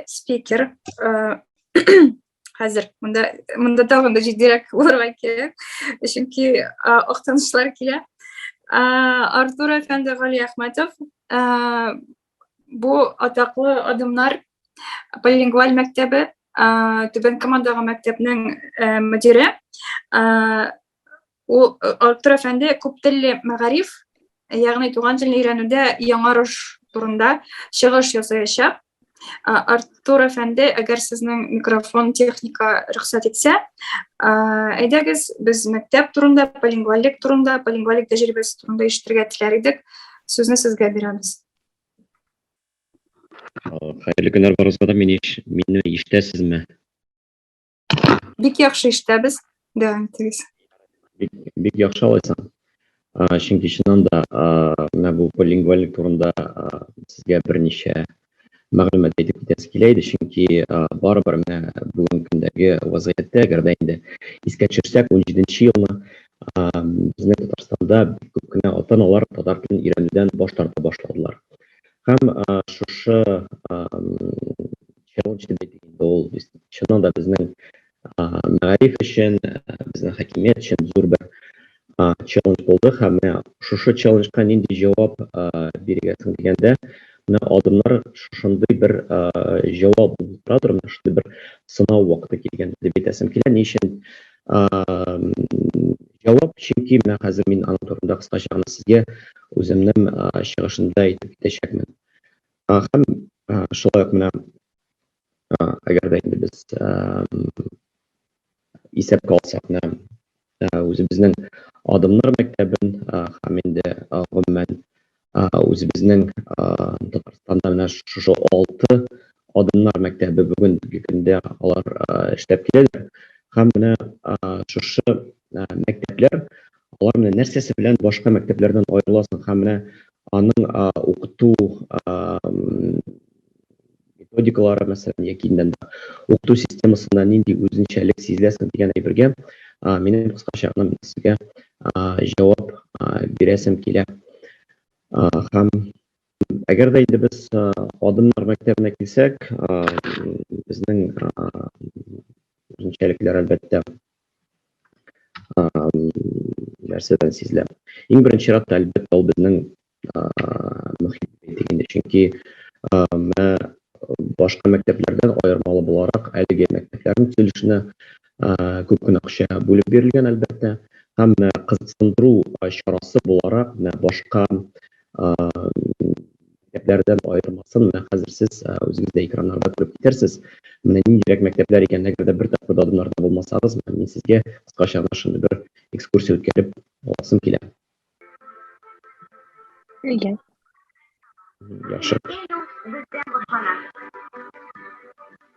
спикер хәзер монда монда тагын да җитдирәк булырга кирәк чөнки актанышлар килә артур әфәнде галиәхмәтов бу атаклы адымнар полилингваль мәктәбе түбән камадагы мәктәпнең мөдире Ул Артур әфәнде күптелле мәгариф, ягъни туган телне өйрәнүдә яңарыш турында чыгыш ясаячак. Артур әфәнде, әгәр сезнең микрофон техника рөхсәт итсә, әйдәгез, без мәктәп турында, полингвалик турында, полингвалик тәҗрибәсе турында ишетергә теләр идек. Сүзне сезгә бирәбез. Хәерле көннәр барыгызга да. Мине ишетәсезме? Бик яхшы эштәбез. Дәвам итегез. Бик, бик яхшы алайсаң. Чөнки чыннан да менә бу билингвалик турында сезгә берничә мәгълүмат әйтеп китәсе килә иде, чөнки барыбер менә бүгенге көндәге вазгыятьтә, әгәр дә инде искә төшерсәк, 17 елны безнең Татарстанда бик күп кенә ата-аналар татар телен өйрәнүдән баш тарта башладылар. Һәм шушы Чынын сөйли дигәндә ул без чыннан да безнең мәгариф өчен, безнең хакимият өчен зур бер челлендж булды һәм менә шушы челленджка нинди җавап бирергә соң дигәндә, менә адымнар шушындый бер җавап булып тора торган, менә шундый бер сынау вакыты килгән дип әйтәсем килә. Ни өчен җавап? Чөнки менә хәзер мин аның турында кыскача гына сезгә үземнең чыгышымда әйтеп китәчәкмен. Һәм шулай ук менә әгәр дә инде без исәпкә алсак, менә үзебезнең адымнар мәктәбен һәм инде гомумән үзебезнең Татарстанда менә шушы алты адымнар мәктәбе бүгенге көндә алар эшләп киләләр. Һәм менә шушы мәктәпләр Аларны нәрсәсе белән башка мәктәпләрдән аерыласың һәм менә аның укыту методикалары мәсәлән яки инде укыту системасында нинди үзенчәлек сизеләсең дигән әйбергә минем кыскача гына сезгә җавап бирәсем килә. Һәм әгәр дә инде без адымнар мәктәбенә килсәк, безнең үзенчәлекләр әлбәттә нәрсәдән сизелә. Иң беренче чиратта, әлбәттә, ул безнең мөхит бит инде, чөнки менә башка мәктәпләрдән аермалы буларак, әлеге мәктәпләрнең төзелешенә күп кенә акча бүлеп бирелгән, әлбәттә. Һәм менә кызыксындыру чарасы буларак, менә башка мәктәпләрдән аермасын, менә хәзер сез үзегез дә экраннарда күреп китәрсез. Менә ниндирәк мәктәпләр икән, әгәр дә бер тапкыр да адымнарда булмасагыз, менә мин сезгә кыскача гына шундый бер экскурсия үткәреп аласым килә. Әйе. Яхшы.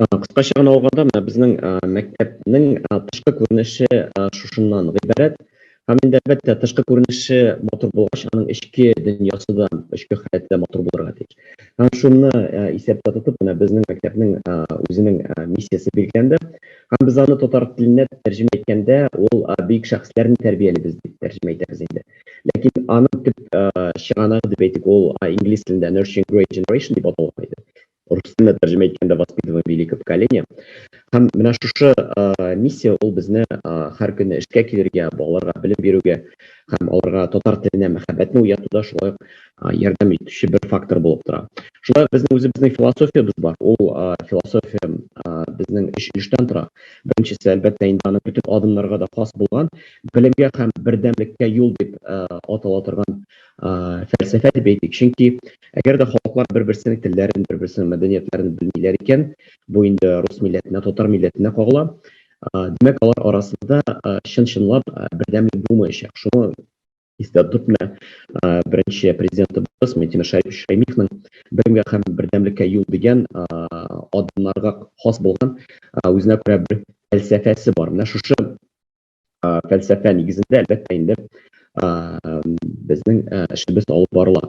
Кыскача гына алганда, менә безнең мәктәпнең тышкы күренеше шушыннан гыйбарәт. Һәм инде, әлбәттә, тышкы күренеше матур булгач, аның эчке дөньясы да, эчке халәте дә матур булырга тиеш. Һәм шуны исәптә тотып, менә безнең мәктәпнең үзенең миссиясе билгеләнде. Һәм без аны татар теленә тәрҗемә иткәндә, ул Бөек шәхесләрне тәрбиялибез дип тәрҗемә итәбез инде. Ләкин аның төп чыганагы дип әйтик, ул инглиз телендә Nurturing Great Generation дип аталган иде. рус теленә тәрҗемә иткәндә воспитываем великое поколение һәм менә шушы миссия ул безне һәр көнне эшкә килергә балаларга белем бирүгә һәм аларга татар теленә мәхәббәтне уятуда шулай ук ярдәм итүче бер фактор булып тора шулай ук безнең үзебезнең философиябез бар ул философия безнең өч өлештән тора беренчесе әлбәттә инде аны бөтен адымнарга да хас булган белемгә һәм бердәмлеккә юл дип атала торган фәлсәфә дип әйтик. Чөнки әгәр дә халыклар бер-берсенең телләрен, бер-берсенең мәдәниятләрен белмиләр икән, бу инде рус милләтенә, татар милләтенә кагыла. Димәк, алар арасында чын-чынлап бердәмлек булмаячак. Шуны истә тотып, менә беренче президентыбыз Минтимер Шәймиевнең Белемгә һәм бердәмлеккә юл дигән адымнарга хас булган үзенә күрә бер фәлсәфәсе бар. Менә шушы фәлсәфә нигезендә, әлбәттә инде, безнең эшебез алып барыла.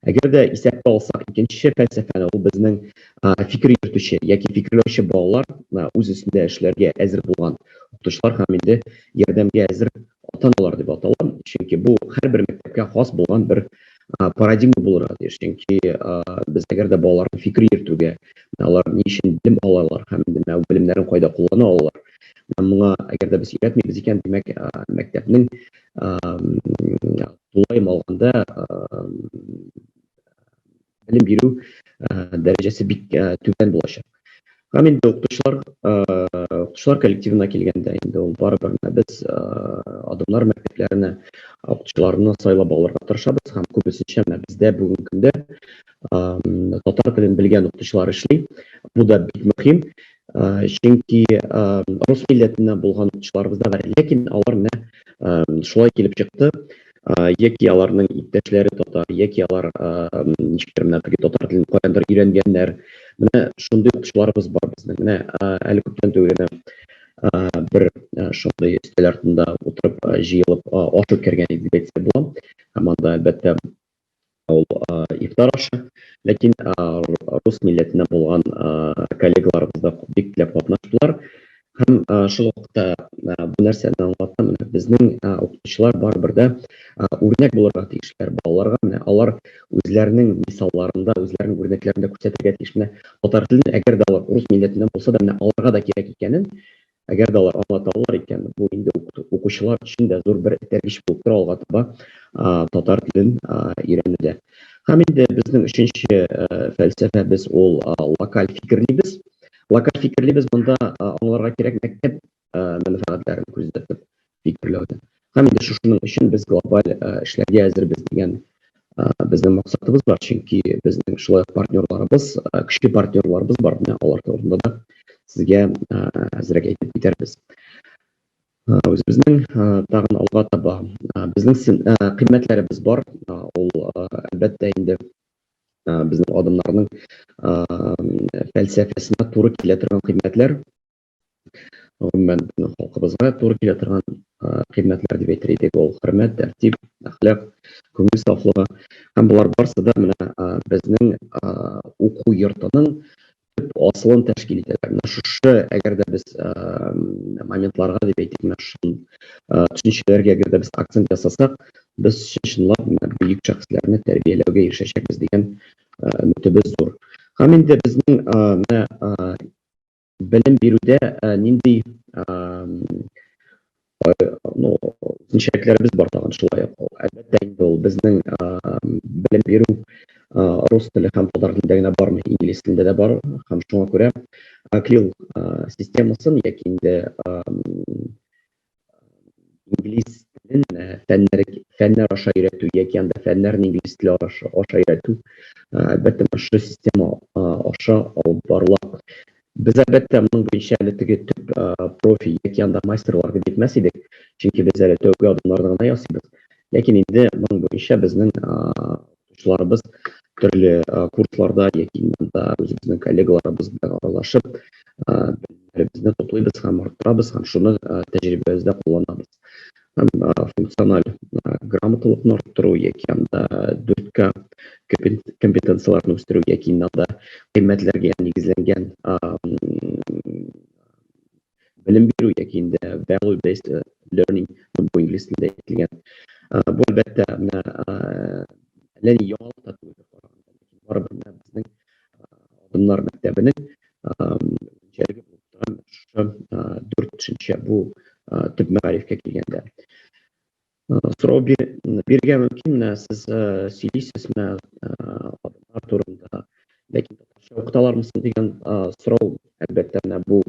Әгәр дә исәпкә алсак, икенче фәлсәфәне, ул безнең фикер йөртүче яки фикерләүче балалар, үз өстендә эшләргә әзер булган укытучылар һәм инде ярдәмгә әзер ата-аналар дип атала. Чөнки бу һәрбер мәктәпкә хас булган бер парадигма булырга тиеш. Чөнки без әгәр дә балаларны фикер йөртүгә, алар ни өчен белем алалар һәм инде менә белемнәрен кайда куллана алалар, Моңа әгәр дә без өйрәтмибез икән, димәк, мәктәпнең тулай малганда белем бирү дәрәҗәсе бик түбән булачак. Һәм инде укытучылар, укытучылар коллективына килгәндә, инде ул барыбер без Адымнар мәктәпләренә укытучыларны сайлап алырга тырышабыз һәм күбесенчә менә бездә бүгенге көндә татар телен белгән укытучылар эшли. Бу да бик мөһим. Чөнки рус милләтеннән булган укытучыларыбыз да бар. Ләкин алар менә шулай килеп чыкты, яки аларның иптәшләре татар, яки алар ничектер менә теге татар телен каяндыр өйрәнгәннәр. Менә шундый укытучыларыбыз бар безнең. Менә әле күптән түгел генә бер шундый өстәл артында утырып, җыелып аш үткәргән идек дисәм була. Һәм анда, әлбәттә, ул ифтар ашы. Ләкин рус милләтеннән булган коллегаларыбыз да бик теләп катнаштылар. Һәм шул вакытта бу нәрсәне аңлата, менә безнең укытучылар барыбер дә үрнәк булырга тиешләр балаларга. Менә алар үзләренең мисалларында, үзләренең үрнәкләрендә күрсәтергә тиеш. Менә татар телен, әгәр дә алар рус милләтеннән булса да, менә аларга да кирәк икәнен Әгәр дә алар аңлата алалар икән, бу инде укучылар өчен дә зур бер этәргеч булып тора алга таба татар телен өйрәнүдә. Һәм инде безнең өченче фәлсәфәбез ул локаль фикерлибез. Локаль фикерлибез монда аңларга кирәк мәктәп мәнфәгатьләрен күздә тотып. фикерләүдә. Һәм инде шушының өчен без глобаль эшләргә әзербез дигән безнең максатыбыз бар, чөнки безнең шулай ук партнерларыбыз, көчле партнерларыбыз бар, менә алар турында да сезгә әзрәк әйтеп китәрбез. Үзебезнең тагын алга таба безнең кыйммәтләребез бар, ул әлбәттә инде безнең адымнарның фәлсәфәсенә туры килә торган кыйммәтләр. гомумән безнең халкыбызга туры килә торган кыйммәтләр дип әйтер идек ул хөрмәт тәртип әхлак күңел сафлыгы һәм болар барысы да менә безнең уку йортының төп асылын тәшкил итәләр менә шушы әгәр дә без моментларга дип әйтик менә шул төшенчәләргә әгәр дә без акцент ясасак без чынлап менә бөек шәхесләрне тәрбияләүгә ирешәчәкбез дигән өметебез зур һәм инде безнең менә белем бирүдә нинди ну, үзенчәлекләребез бар тагын шулай ук. Әлбәттә инде ул безнең белем бирү рус теле һәм татар телендә генә бармый, инглиз телендә дә бар һәм шуңа күрә акрил системасын яки инде инглиз телен фәннәр фәннәр аша өйрәтү яки анда фәннәрне инглиз теле аша, аша өйрәтү әлбәттә шушы система аша алып барыла без әлбәттә моның буенча әле теге төп профи яки анда мастерлар дип әйтмәс идек чөнки без әле тәүге адымнарны гына ясыйбыз ләкин инде моның буенча безнең Укытучыларыбыз төрле курсларда яки монда үзебезнең коллегаларыбыз белән аралашып, белемнәребезне туплыйбыз һәм арттырабыз һәм шуны тәҗрибәбездә кулланабыз. Һәм функциональ грамоталыкны арттыру яки анда 4К компетенцияләрне үстерү яки анда кыйммәтләргә нигезләнгән белем бирү яки инде value based э, learning бу инглиз телендә әйтелгән э, бу әлбәттә менә әллә ни яңалык та түгел барыбер менә безнең адымнар мәктәбенең үзенчәлеге булып торган шушы дүрт төшенчә бу төп мәгарифкә килгәндә Сорау бирергә мөмкин, менә сез сөйлисез менә татар турында, ләкин татарча укыталармы соң дигән сорау, әлбәттә, менә бу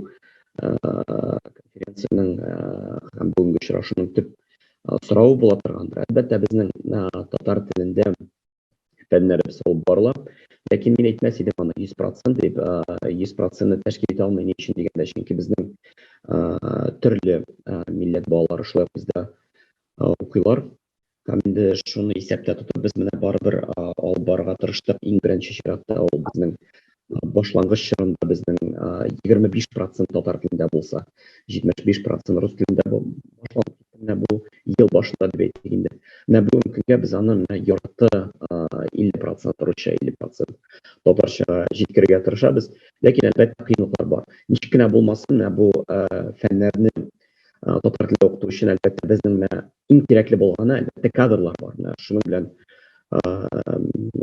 конференциянең һәм бүгенге очрашуның төп соравы була торгандыр. Әлбәттә, безнең татар телендә фәннәр без алып барыла. Ләкин мин әйтмәс идем аны 100% дип, 100%-ны тәшкил итә алмый, ни өчен дигәндә, чөнки безнең төрле милләт балалары шулай ук бездә укыйлар. Һәм инде шуны исәптә тотып, без менә барыбер алып барырга тырыштык. Иң беренче чиратта ул безнең башлангыч чорында безнең 25 процент татар телендә булса, 75 процент рус телендә башланып китте. Менә бу ел башында дип әйтик инде. Менә бүгенге көнгә без аны менә ярты 50 процент русча, 50 процент татарчага җиткерергә тырышабыз. Ләкин әлбәттә кыенлыклар бар. Ничек кенә булмасын, менә бу фәннәрне татар теле укыту өчен әлбәттә безнең менә иң кирәкле булганы әлбәттә кадрлар бар менә шуның белән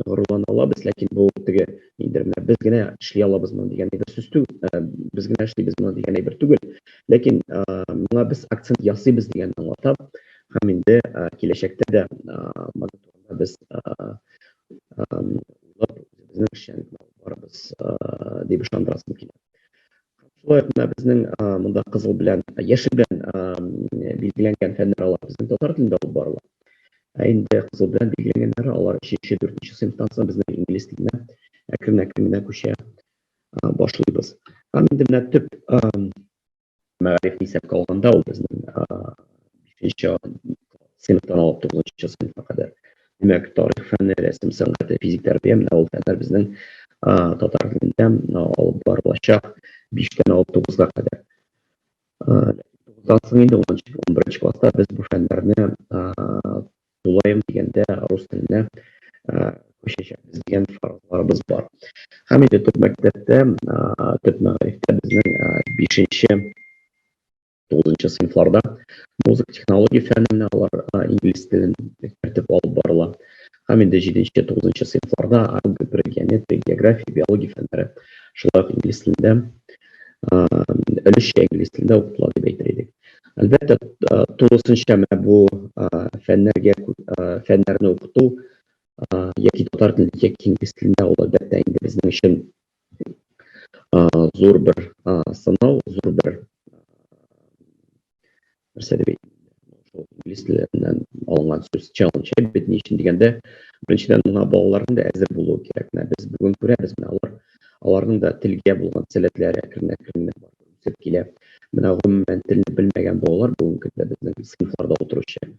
горурлана алабыз ләкин бу теге инде менә без генә эшли алабыз моны дигән әйбер сүз түгел без генә эшлибез моны дигән әйбер түгел ләкин моңа без акцент ясыйбыз дигән аңлата һәм инде киләчәктә дә моны турында без уйлап үзебезнең эшчәнлекне алып барабыз дип ышандырасым килә Шулай ук безнең монда кызыл белән, яшел белән билгеләнгән фәннәр алар безнең татар телендә алып барыла. Ә инде кызыл белән билгеләнгәннәре алар өченче, дүртенче сыйныфтан соң безнең инглиз теленә әкрен-әкрен генә күчә башлыйбыз. Һәм инде менә төп мәгариф исәпкә алганда ул безнең бишенче сыйныфтан алып тугызынчы сыйныфка кадәр Димәк, тарих фәне, рәсем сәнгате, физик тәрбия, менә ул фәннәр безнең татар телендә алып барылачак 5-тән 9-га кадәр. Тагын соң инде 10-нчы, 11-нче класста без бу фәннәрне тулаем дигәндә рус теленә күчәчәкбез дигән фаразларыбыз бар. Һәм инде төп мәктәптә, төп мәгарифтә безнең 5-нче Тугызынчы сыйныфларда музыка технология фәненә алар инглиз телен кертеп алып барыла. Һәм инде җиденче, тугызынчы сыйныфларда алгебра, геометрия, география, биология фәннәре шулай ук инглиз телендә, өлешчә инглиз телендә укытыла дип әйтер идек. Әлбәттә, тулысынча менә бу фәннәргә фәннәрне укыту яки татар телендә, яки инглиз телендә ул әлбәттә инде безнең өчен зур бер сынау зур бер нәрсә дип шул инглиз теленнән алынган сүз челлендж бит ни өчен дигәндә беренчедән мына балаларның да әзер булуы кирәк менә без бүген күрәбез менә алар аларның да телгә булган сәләтләре әкренләп әкренләп үсеп килә менә гомумән телне белмәгән балалар бүгенге көндә безнең сыйныфларда утыручы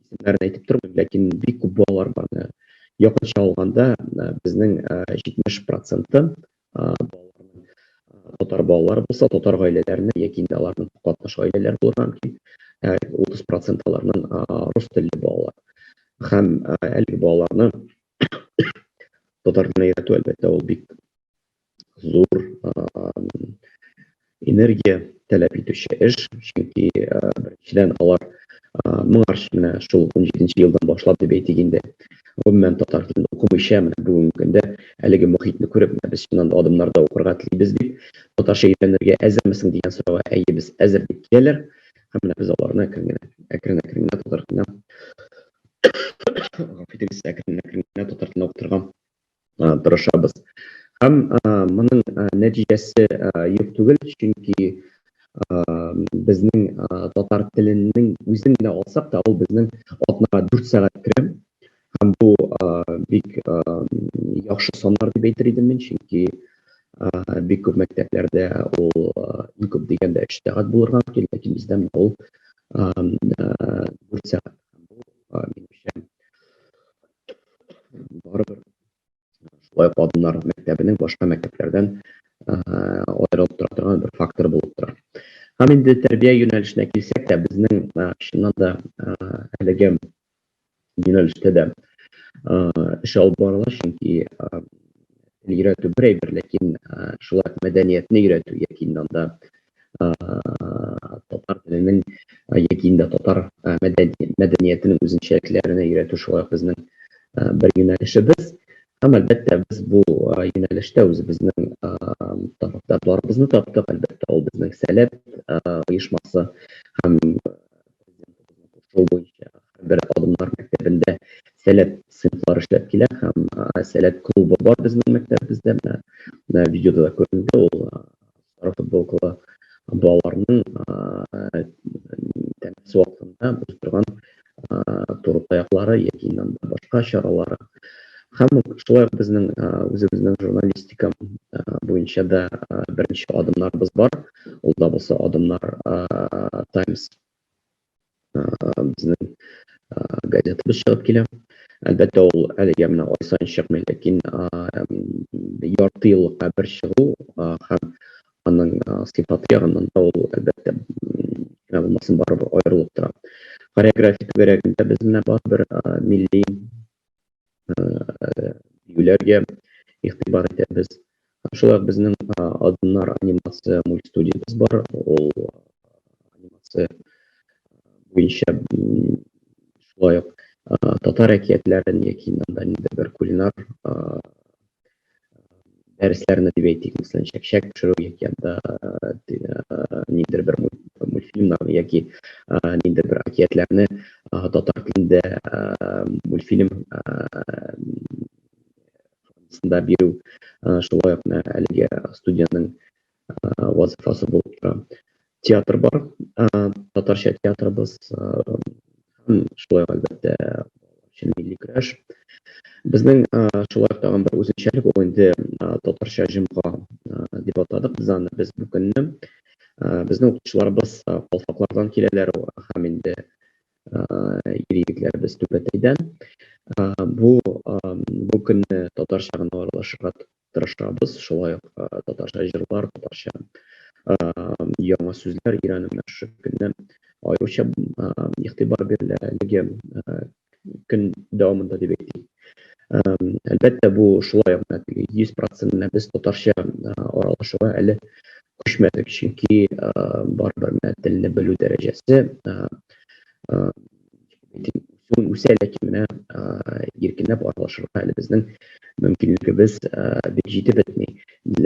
исемнәрен әйтеп тормыйм, ләкин бик күп балалар бар. Якынча алганда, безнең 70 проценты балаларның татар балалары булса, татар гаиләләреннән яки инде аларның катнаш гаиләләре булырга мөмкин. 30 процент аларның рус телле балалар. Һәм әлеге балаларны татар телен өйрәтү, әлбәттә, ул бик зур энергия таләп итүче эш, чөнки беренчедән алар моңарчы менә шул 17 елдан башлап дип әйтик инде, гомумән татар телен укымыйча менә бүгенге көндә әлеге мохитне күреп, менә без чыннан да адымнарда укырга телибез дип, татарча өйрәнергә әзермесең дигән сорауга әйе, без әзер дип киләләр һәм менә без аларны әкрен генә, әкрен-әкрен генә татар теленә, гафу итегез, әкрен-әкрен генә татар теленә укытырга тырышабыз. Һәм моның нәтиҗәсе юк түгел, чөнки безнең татар теленең үзен генә алсак та, ул безнең атнага дүрт сәгать керә. Һәм бу бик яхшы саннар дип әйтер идем мин, чөнки бик күп мәктәпләрдә ул иң күп дигәндә өч сәгать булырга мөмкин, ләкин бездә менә ул дүрт сәгать. Бу минемчә барыбер шулай ук адымнар мәктәбенең башка мәктәпләрдән аерылып тора торган бер фактор булып тора. Һәм инде тәрбия юнәлешенә килсәк тә, безнең чыннан да әлеге юнәлештә дә эш алып барыла, чөнки өйрәтү бер әйбер, ләкин шулай мәдәниятне өйрәтү яки анда татар теленең яки инде татар мәдәниятенең үзенчәлекләренә өйрәтү шулай ук безнең бер юнәлешебез. Һәм, әлбәттә, без бу юнәлештә үзебезнең табибларыбызны таптык. Әлбәттә, ул безнең Сәләт оешмасы һәм шул буенча бер адымнар мәктәбендә Сәләт сыйныфлары эшләп килә һәм Сәләт клубы бар безнең мәктәбебездә. Менә видеода да күренде ул. Сары футболкалы балаларның тәмәке вакытында үз торган туры таяклары яки башка чаралары Һәм шулай ук безнең үзебезнең журналистика буенча да беренче адымнарыбыз бар. Ул да булса адымнар Times безнең газетабыз чыгып килә. Әлбәттә, ул әлегә менә ай саен чыкмый, ләкин ярты еллыкка бер чыгу һәм аның сыйфаты ягыннан да ул, әлбәттә, кем булмасын, барыбер аерылып тора. Хореография түгәрәгендә без менә барыбер милли биюләргә игътибар итәбез. Шулай ук безнең Адымнар анимация мультстудиябез бар. Ул анимация буенча шулай ук татар әкиятләрен яки монда инде бер кулинар дәресләрне дип әйтик, мәсәлән, чәкчәк пешерү яки анда ниндер бер мультфильмнарны яки ниндер бер әкиятләрне татар телендә мультфильм формасында бирү, шулай ук әлеге студиянең вазифасы булып тора. Театр бар, татарча театрыбыз, һәм шулай ук әлбәттә өчен милли көрәш. Безнең шулай ук тагын бер үзенчәлек ул инде татарча җомга дип атадык без аны без бу көнне. Безнең укытучыларыбыз калфаклардан киләләр һәм инде ир-егетләребез Түбәтәйдән. Бу көнне татарча гына аралашырга Тырышабыз шулай ук татарча җырлар, татарча яңа сүзләр өйрәнүенә шушы көнне аеруча игътибар бирелә. Әлеге көн дәвамында дип әйтик. Әлбәттә, бу шулай ук менә теге 100% менә без татарча аралашуга әле күчмәдек, чөнки барыбер менә телне белү дәрәҗәсе үсүен үсә, ләкин менә иркенләп аралашырга әле безнең мөмкинлегебез бик җитеп бетми.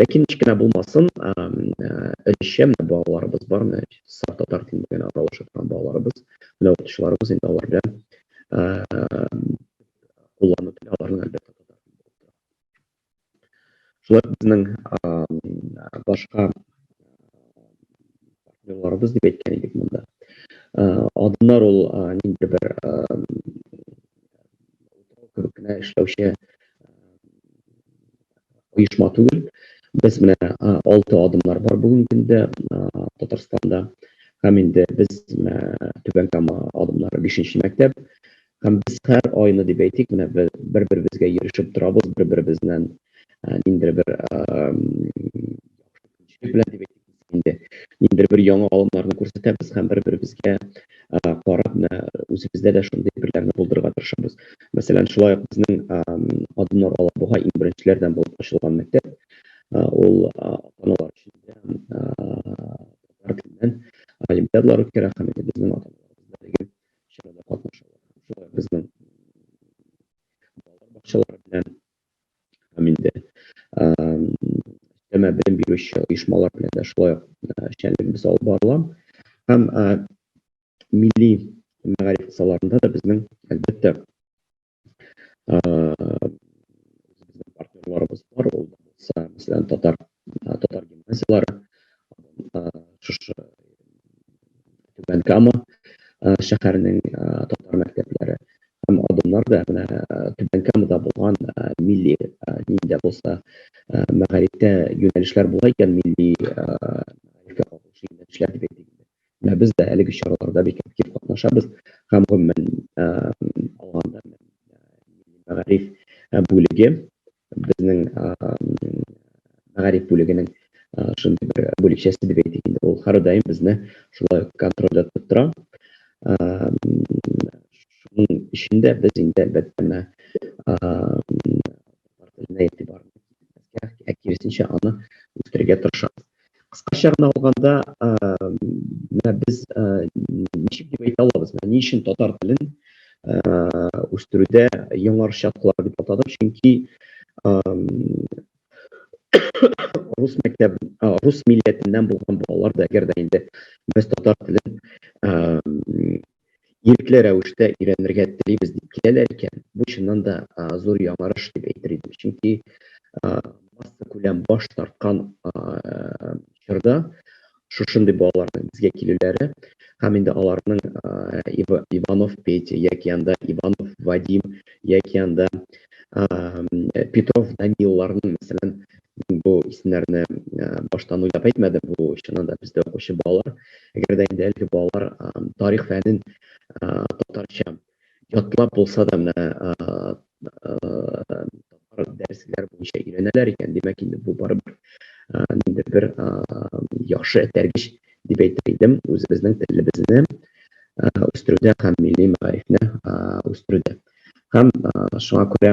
Ләкин ничек кенә булмасын, өлешчә менә балаларыбыз бар, менә саф татар телен белән аралаша торган балаларыбыз, менә укытучыларыбыз инде алар белән куллану теле аларның әлбәттә татар теле булып тора. Шулай безнең башка партнерларыбыз дип әйткән идек монда. Адымнар ул нинди бер утрау кебек кенә эшләүче оешма түгел. Без менә алты адымнар бар бүгенге көндә Татарстанда. Һәм инде без Түбән Кама адымнары бишенче мәктәп. Һәм без һәр айны дип әйтик, менә бер-беребезгә йөрешеп торабыз, бер-беребезнән ниндидер бер ниндидер бер яңа алымнарны күрсәтәбез һәм бер-беребезгә карап, менә үзебездә дә шундый бирләрне булдырырга тырышабыз. Мәсәлән, шулай ук безнең Адымнар алып буһай иң беренчеләрдән булып ачылган мәктәп. Ул ата-аналар өчен дә татар теленнән олимпиадалар үткәрә һәм безнең ата-аналарыбыз да әлеге чарада катнаша алар. Шулай безнең балалар бакчалары белән һәм инде өстәмә белем бирүче оешмалар белән дә шулай эшчәнлегебез алып барыла. Һәм милли мәгариф кысаларында да безнең, әлбәттә, партнерларыбыз бар ул булса мәсәлән татар татар гимназияләре шушы түбән кама шәһәренең татар мәктәпләре һәм адымнар да менә түбән камада булган милли ниндә булса мәгарифтә юнәлешләр була икән милли юнәлешләр дип әйтик Менә без дә әлеге чараларда бик актив катнашабыз һәм гомумән алганда мәгариф бүлеге безнең мәгариф бүлегенең шундый бер бүлекчәсе дип әйтик инде. Ул һәрдаим безне шулай контрольдә тотып тора. Шуның өчен дә без инде әлбәттә менә татар теленә игътибарны киметмәскә, ә киресенчә аны үстерергә тырышабыз. Кыскача гына алганда, менә без ничек дип әйтә алабыз, менә ни өчен татар телен үстерүдә яңарыш яткылар дип атадым, чөнки рус мәктәбе, рус милләтеннән булган балалар да, әгәр дә инде без татар телен ирекле рәвештә өйрәнергә телибез дип киләләр икән, бу чыннан да зур яңарыш дип әйтер идем. Чөнки массакүләм баш тарткан чорда шушындый балаларның безгә килүләре һәм инде аларның Иванов Петя яки анда Иванов Вадим яки анда Петров Данилларның мәсәлән Мин бу исемнәрне баштан уйлап әйтмәдем, бу чыннан да бездә укучы балалар. Әгәр дә инде әлеге балалар тарих фәнен татарча ятлап булса да менә татар дәресләре буенча өйрәнәләр икән, димәк инде бу барыбер ниндидер бер яхшы этәргеч дип әйтер идем үзебезнең телебезне үстерүдә һәм милли мәгарифне үстерүдә. Һәм шуңа күрә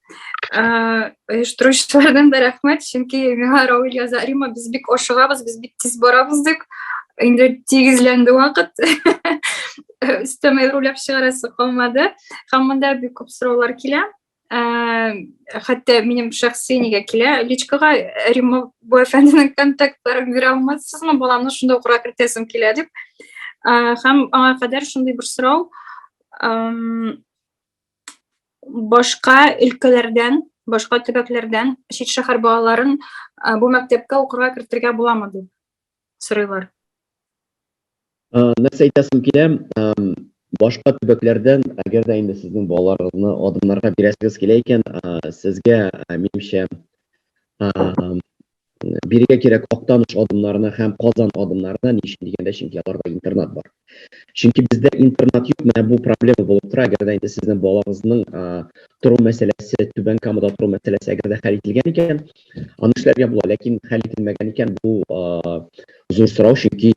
оештыручылардан да рәхмәт чөнки миңа равил яза рима без бик ашыгабыз без бик тиз барабыз дип инде тигезләнде вакыт өстәмә руләп чыгарасы калмады һәм монда бик күп сораулар килә хәтта минем шәхси нигә килә личкага рима бу әфәнденең контактларын бирә алмассызмы баламны шунда укырга кертәсем килә дип һәм аңа кадәр шундый бер сорау башка өлкәләрдән, башка төбәкләрдән чит шәһәр балаларын бу мәктәпкә укырга кертергә буламы дип сорыйлар. Нәрсә әйтәсем килә, башка төбәкләрдән, әгәр дә инде сезнең балаларыгызны адымнарга бирәсегез килә икән, сезгә, минемчә, бирегә кирәк Актаныш адымнарына һәм Казан адымнарына, ни өчен дигәндә, чөнки аларда интернат бар. Чөнки бездә интернат юк, менә бу проблема булып тора, әгәр дә инде сезнең балагызның тору мәсьәләсе, Түбән Камада тору мәсьәләсе әгәр дә хәл ителгән икән, аны эшләргә була, ләкин хәл ителмәгән икән, бу зур сорау, чөнки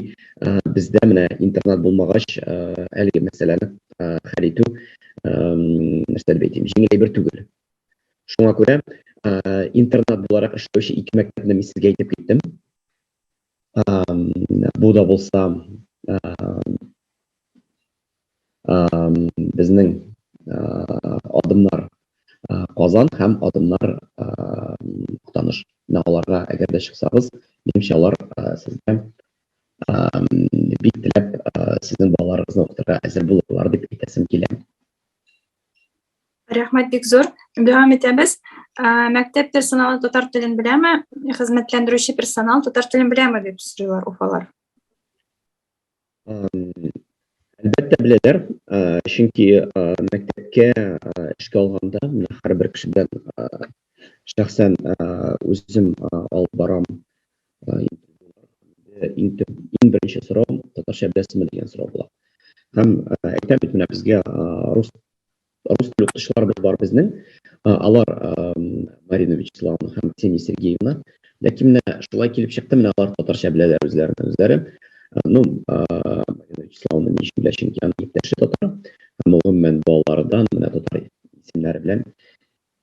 бездә менә интернат булмагач, әлеге мәсьәләне хәл итү, нәрсә дип әйтим, җиңел әйбер түгел. Шуңа күрә интернат буларак эшләүче ике мәктәпне мин сезгә әйтеп киттем. Бу да булса безнең адымнар Казан һәм адымнар Актаныш. Менә аларга әгәр дә чыксагыз, минемчә алар сезгә бик теләп сезнең балаларыгызны укытырга әзер булырлар дип әйтәсем килә. Рәхмәт бик зур. Дәвам итәбез. Мәктәп персоналы татар телен беләме? Хезмәтләндерүче персонал татар телен беләме дип сорыйлар уфалар. Әлбәттә беләләр, чөнки мәктәпкә эшкә алганда менә һәрбер кеше белән шәхсән үзем алып барам. Иң беренче сорау татарча беләсезме дигән сорау була. Һәм әйтәм бит, менә безгә рус Рус телле укытучыларыбыз бар безнең. Алар Марина Вячеславовна һәм Ксения Сергеевна. Ләкин менә шулай килеп чыкты, менә алар татарча беләләр үзләренә үзләре. Ну, Марина Вячеславовна ни өчен белә, чөнки аның иптәше татар. Һәм ул гомумән балалардан менә татар исемнәре белән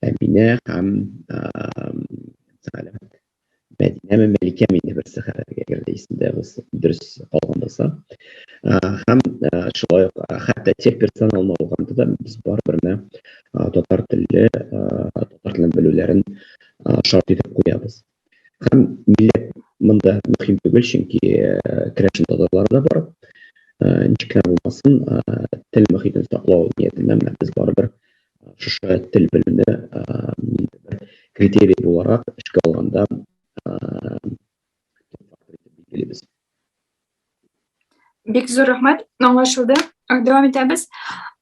Әминә һәм Сәгалә. Мәдинәме, Мәликәме инде берсе хәтергә керде, исемдә булса, дөрес калган булса. Һәм шулай ук хәтта тек персонал алганда да без барыбер менә татар телле, татар телен белүләрен шарт итеп куябыз. Һәм милләт монда мөһим түгел, чөнки керәшен татарлары да бар. Ничек кенә булмасын, тел мөхитен саклау ниятеннән без барыбер шушы тел белеме критерий буларак эшкә алганда билгелибез. Бик зур рәхмәт, аңлашылды. Дәвам итәбез.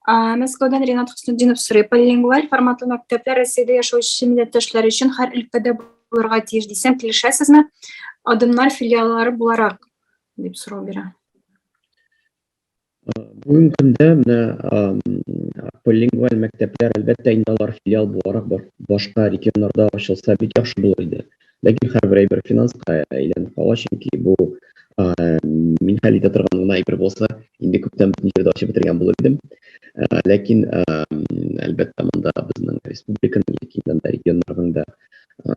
Мәскәүдән Ренат Хөснетдинов сорый. Полилингваль форматлы мәктәпләр Россиядә яшәүче милләттәшләр өчен һәр өлкәдә булырга тиеш дисәм, килешәсезме? Адымнар филиаллары буларак, дип сорау бирә. Бүгенге көндә менә полилингваль мәктәпләр, әлбәттә, инде алар филиал буларак башка регионнарда ачылса бик яхшы булыр иде. Ләкин һәрбер әйбер финанска әйләнеп кала, чөнки бу мин хәл итә торган гына әйбер булса, инде күптән бөтен җирдә ачып бетергән булыр идем. Ләкин, әлбәттә, монда безнең республиканың яки регионнарның да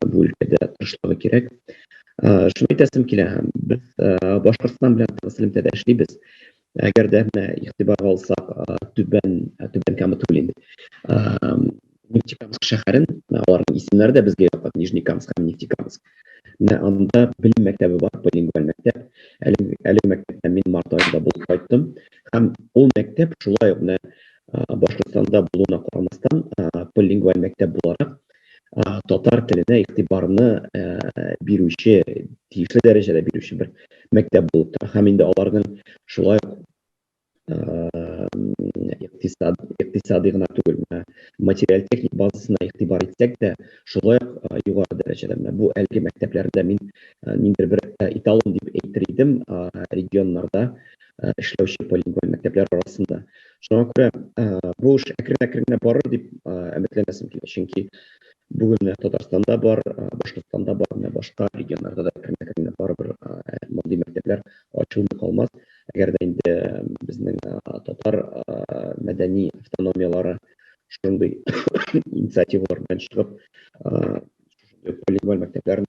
бу өлкәдә тырышлыгы кирәк. Шуны әйтәсем килә, без Башкортстан белән тыгыз элемтәдә эшлибез. Әгәр дә менә игътибарга алсак, Түбән Кама түгел инде. Нефтекамск шәһәрен, аларның исемнәре дә безгә якын, Нижнекамск һәм Нефтекамск. Менә анда белем мәктәбе бар, билингваль мәктәп. Әлеге мәктәптә мин март аенда булып кайттым. Һәм ул мәктәп шулай ук менә Башкортстанда булуына карамастан, билингваль мәктәп буларак, татар теленә игътибарны бирүче, тиешле дәрәҗәдә бирүче бер мәктәп булып тора. Һәм инде аларның шулай ук икътисади гына түгел, менә материаль-техник базасына игътибар итсәк тә, шулай ук югары дәрәҗәдә. Менә бу әлеге мәктәпләрдә мин ниндидер бер эталон дип әйтер идем регионнарда эшләүче полиглон мәктәпләр арасында. Шуңа күрә бу эш әкрен-әкрен генә барыр дип өметләнәсем килә. Чөнки бүген Татарстанда бар, Башкортстанда бар, менә башка регионнарда да әкрен-әкрен генә барыбер мондый мәктәпләр ачылмый калмас. Әгәр дә инде безнең татар мәдәни автономияләре шундый инициативалар белән чыгып, полиглоф мәктәпләрен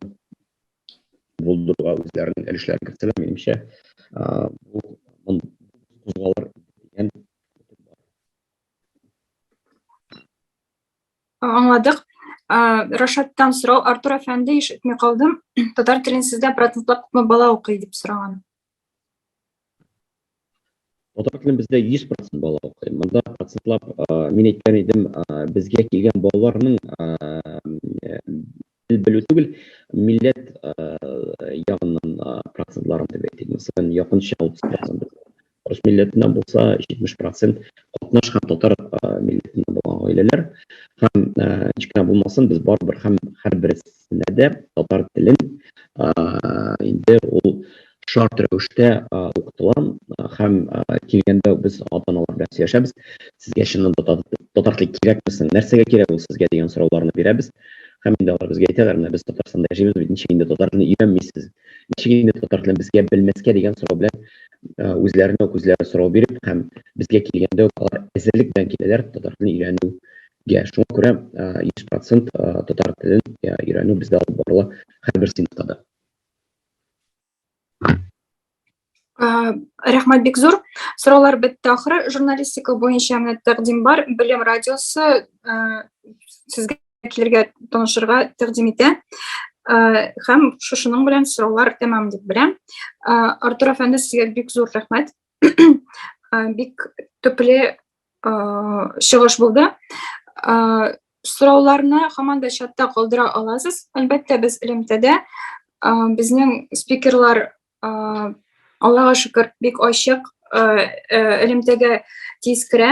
булдыруга үзләренең өлешләрен керттеләр. Минемчә, бу кузгалыр дигән өмет бар. Аңладык. Рашаттан сорау, Артур әфәнде, ишетми калдым. Татар телен сездә процентлап күпме бала укый, дип сораган. Татар телен бездә 100% бала укый. Монда процентлап мин әйткән идем, безгә килгән балаларның тел белү түгел, милләт ягыннан процентларын дип әйтик. Мәсәлән, якынча 30% рус милләтеннән булса, 70% катнаш һәм татар милләтеннән булган гаиләләр. Һәм ничек кенә булмасын, без барыбер һәм һәрберебез текстләрендә дә татар телен инде ул шарт рәвештә укытыла һәм килгәндә без ата аналар белән сөйләшәбез сезгә чыннан да татар теле кирәкме соң нәрсәгә кирәк ул сезгә дигән сорауларны бирәбез һәм инде алар безгә әйтәләр менә без татарстанда яшибез бит ничек инде татар телен өйрәнмисез ничек инде татар телен безгә белмәскә дигән сорау белән үзләренә үк үзләре сорау биреп һәм безгә килгәндә үк алар әзерлек белән киләләр татар телен өйрәнү Йә, шуңа күрә 100% татар телен өйрәнү бездә алып барыла һәрбер сыйныфта да. Рәхмәт бик зур. Сораулар бетте ахры. Журналистика буенча менә тәкъдим бар. Белем радиосы сезгә килергә, танышырга тәкъдим итә. Һәм шушының белән сораулар тәмам дип беләм. Артур әфәнде, сезгә бик зур рәхмәт. бик төпле чыгыш булды. Сорауларны хаман да чатта калдыра аласыз. Әлбәттә, без элемтәдә безнең спикерлар Аллага шөкер, бик ачык элемтәгә тиз керә.